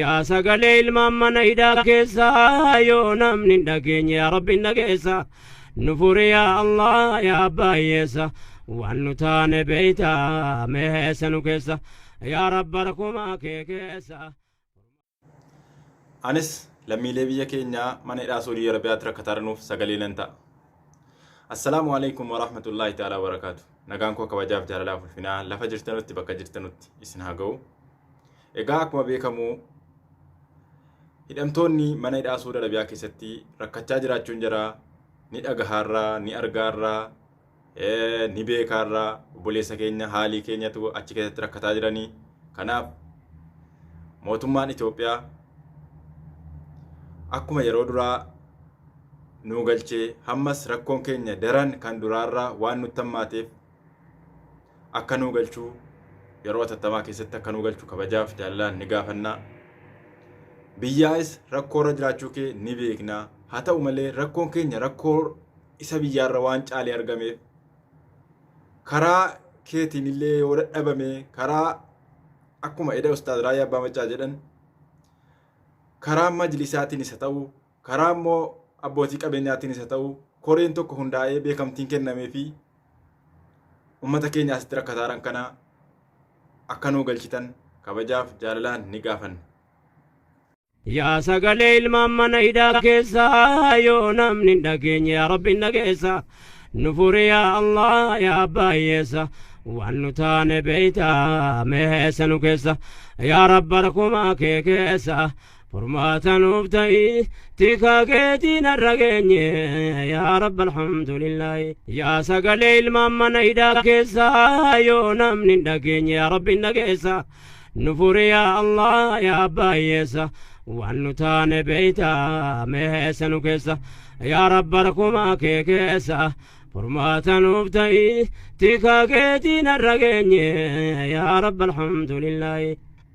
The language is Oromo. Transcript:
Yaa sagalee ilmaan mana hidhaa keessa yoo namni hin dhageenye yaa rabbi hin dhageessa nu furi yaa allah yaa abbaa hiyyeessa waan nu taane beeyta mee heessa nu keessa yaa rabba rakkumaa kee keessa. Anis lammiilee biyya keenyaa mana hidhaa Saudii Arabiyaatti rakkataranuuf sagalee nan ta'a. Assalaamu alaikum warahmatullaahi ta'aalaa barakaatu. Nagaan koo kabajaaf jaalalaaf ulfinaa lafa jirtanutti bakka jirtanutti isin haa ga'u. Egaa akkuma beekamu hidhamtoonni mana hidhaa Suudi Arabiyaa keessatti rakkachaa jiraachuun jira. Ni dhagahaarraa, ni argaarraa, ni beekaarraa obboleessa keenya haalii keenyatu achi keessatti rakkataa jiranii. Kanaaf mootummaan Itoophiyaa akkuma yeroo duraa nuu galchee hammas rakkoon keenya daran kan duraarraa waan nutti hammaateef akka nuu galchuu yeroo atattamaa keessatti akka nuu galchu kabajaaf jaallalaan ni gaafannaa. Biyyaas rakkoo irra jiraachuu kee ni beeknaa. Haa ta'u malee rakkoon keenya rakkoo isa biyyaarra waan caalee argameef karaa keetiin illee yoo dadhabame karaa akkuma eda ustaaz Raayyaa Abbaa Maccaa jedhan karaa majlisaatiin isa ta'u Karaa immoo abbootii qabeenyaatiinis haa ta'u koreen tokko hundaa'ee beekamtiin kennamee fi uummata keenya asitti rakkataaran kana akka nuu galchitan kabajaaf jaalalaan ni gaafanna. Yaa sagalee ilmaan mana hidhaa keessaa yoo namni hin dhageenye yaa rabbi hin dhageessa nu furi yaa allah yaa abbaa hiyyeessa waan nu taane beeyta meessa nu keessa yaa rabba rakkumaa kee keessa Furmaata nuuf ta'i tikaa keetii narra geenye yaa rabbi alhamdulillaahi yaa sagalee ilmaan mana hidhaa keessaa yoo namni hin dhageenye yaa rabbi hin dhageessa nu furi yaa allah yaa abbaa hiyyeessa waan nu taane beeyta meessa nu keessa yaa rabba rakkumaa kee keessa furmaata nuuf ta'i tikaa keetii narra geenye yaa rabbi alhamdulillaahi